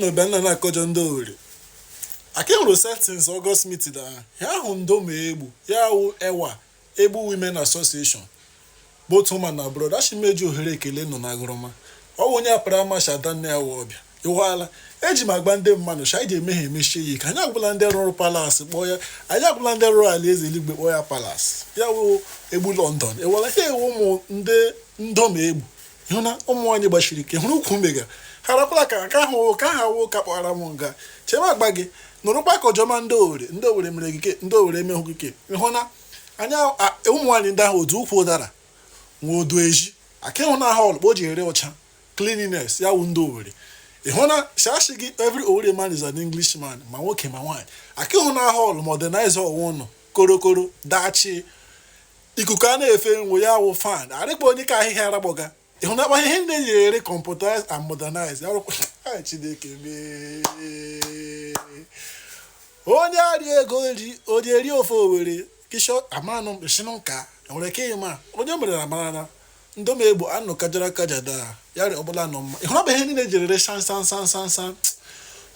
n'ebe nna na-akọjọ ndị owere ka e nwere settings August meeting na ya ahụ ndom egbu ya wụ ewa egbu women association bụ otu ụma na abroad a shị m eji ohere ekele nọ na agụrụma ọ bụ onye apari amashị adanne ya wụ ọbịa ịghọala eji m agba ndị mmadụ si anyị ga-emehie emechie ya ike anyị ahụla ndị rụrụ palace kpọọ ya anyị ahụla ndị rụrụ alaeze eluigwe kpọọ ya palace ya wụ egbu London ewela ha ewu ụmụ ndị ndom egbu ịhụ na ụmụ nwaanyị gbasiri ike hụrụ ukwu mega ha rakwala ka ka ahụ ka ha wụ ka kpọara m nga chebe agba gị nụrụkwa ka ọjọma ndị owere ndị owere mere gị ke ndị owere emehụ gị ke ịhụ na anya ụmụ nwaanyị ndị ahụ otu ukwu ụdara nwa odu eji ka ị hụna hall kpa o ji rị ọcha cleanliness ya wụ ndị Owerri ị hụna shashi gị every Owerri man is an Englishman ma nwoke ma nwaanyị ka ị hụna hall modernize ọwa ụnụ korokoro dachi ikuku a na-efe nwe ya wụ fan arịkpa onye ka ahịhịa aragbọga ị hụna ihe ndị eji ere computerized and modernized arụkwa chineke mee onye arị ego ri onye eri ofe owere kishọ amanụ shinụ nka nwere ike ịma onye mere na mara na Ndom Egbu anụ kajara akaja daa yarị ọbụla anọ mma. Ị hụrụ ọ bụ ihe niile jiri ree san san san san san.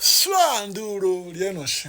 Sua ndị uro rienụ shị.